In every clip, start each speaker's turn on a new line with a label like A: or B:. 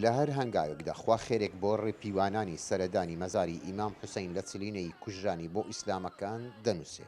A: لە هەر هەنگاوێکدا خوا خێرێک بۆ ڕێپیوانانی سەردانی مەزاری ئیمام حوسەین لە چلینەیی کوژرانی بۆ ئیسلامەکان دەنووسێ.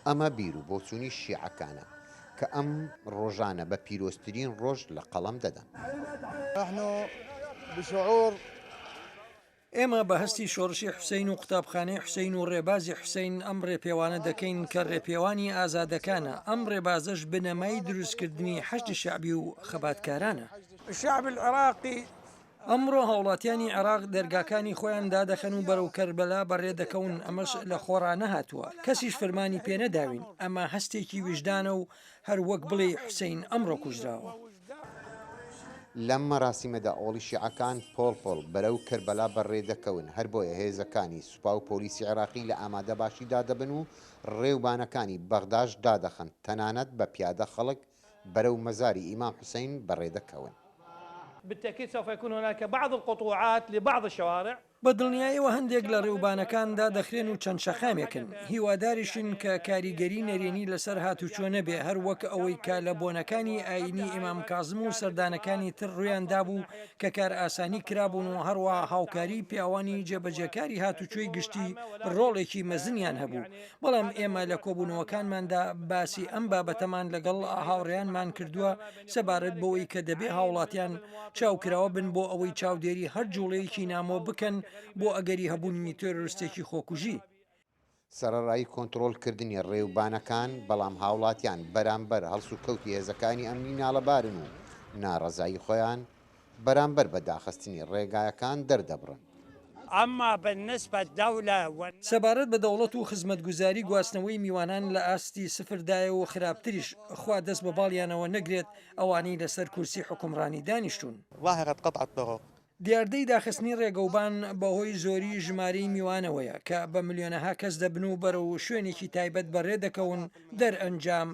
A: ئەمە بیرو بۆچوونی شیعەکانە کە ئەم ڕۆژانە بە پیرۆزترین ڕۆژ لە قەڵەم دەدەن.
B: ئێمە بە هەستی شۆڕشی حوسەین و قوتابخانەی حوسەین و ڕێبازی حوسەین ئەم ڕێپێوانە دەکەین کە ڕێپێوانی ئازادەکانە، ئەم ڕێبازەش بنەمای دروستکردنی حەشدی شەعبی و خەباتکارانە.
C: ئەمڕۆ
B: هاوڵاتیانی عێراق دەرگاکانی خۆیان دادەخەن و بەرەو کەربەلا بەڕێ دەکەون، ئەمەش لە خۆڕا نەهاتووە، کەسیش فرمانی پێنەداوین، ئەمە هەستێکی ویژدانە و هەر وەک بڵێی حوسەین ئەمڕۆ کوژراوە.
A: لەم مەراسیمەدا ئۆڵی شیعەکان پۆڵ پۆڵ بەرەو کەربەلا بەڕێ دەکەون، هەر بۆیە هێزەکانی سوپا و پۆلیسی عێراقی لە ئامادەباشیدا دەبن و ڕێوبانەکانی بەغداش دادەخەن، تەنانەت بە پیادە خەڵک بەرەو مەزاری ئیمام حوسەین بەڕێ دەکەون. بالتأكيد
C: سوف يكون هناك بعض القطوعات لبعض الشوارع. بە دڵنیایەوە
B: هەندێک لە ڕێوبانەکان دادەخرێن و چەند شەقامێکن، هیواداریشین کە کاریگەری نەرێنی لەسەر هاتووچۆ نەبێ، هەر وەک ئەوەی کە لە بۆنەکانی ئایینی ئیمام کازم و سەردانەکانی تر ڕوویان دابوو کە کارئاسانی کرابوون و هەروا هاوکاریی پیاوانی جێبەجێکاری هاتووچۆی گشتی ڕۆڵێکی مەزنیان هەبوو، بەڵام ئێمە لە کۆبوونەوەکانماندا باسی ئەم بابەتەمان لەگەڵ هاوڕێیانمان کردووە سەبارەت بەوەی کە دەبێ هاوڵاتیان چاوکراوە بن بۆ ئەوەی چاودێری هەر جوڵەیەکی نامۆ بکەن بۆ ئەگەری هەبوونی تێرۆرستێکی خۆکوژی. سەرەڕای
A: کۆنتڕۆڵ کردنی ڕێوبانەکان، بەڵام هاوڵاتیان بەرامبەر هەڵسوکەوتی هێزەکانی ئەمنی ناڵەبارن و ناڕەزایی خۆیان بەرامبەر بە داخستنی ڕێگایەکان دەردەبڕن. اما
C: بالنسبە دەولە و. سەبارەت بە
B: دەوڵەت و خزمەتگوزاری گواستنەوەی میوانان لە ئاستی سفر دایە و خراپتریش خوا دەست بە باڵیانەوە نەگرێت ئەوانەی لەسەر کورسی حوکمڕانی دانیشتوون. ظاهرة قطع
D: الطرق. دیاردەی داخستنی
B: ڕێگەوبان بەهۆی زۆری ژمارەی میوانەوەیە کە بە ملیۆنەها کەس دەبن و بەرەو شوێنێکی تایبەت بەڕێ دەکەون دەرئەنجام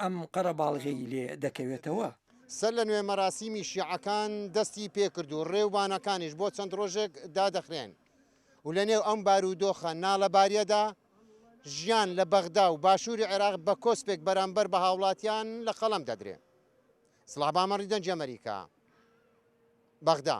B: ئەم قەرەباڵغیەی لێ دەکەوێتەوە. سەر لە نوێ
A: مەراسیمی شیعەکان دەستی پێکرد و رێوبانەکانیش بۆ چەند رۆژێک دادەخرێن و لە نێو ئەم بارودۆخە نالەباریەدا ژیان لە بەغدا و باشوری عێراق بە کۆسپێک بەرامبەر بە هاوڵاتیان لە قەڵەم دەدرێ. سڵاح بامەڕی دەنگی ئەمەریکا، بەغدا.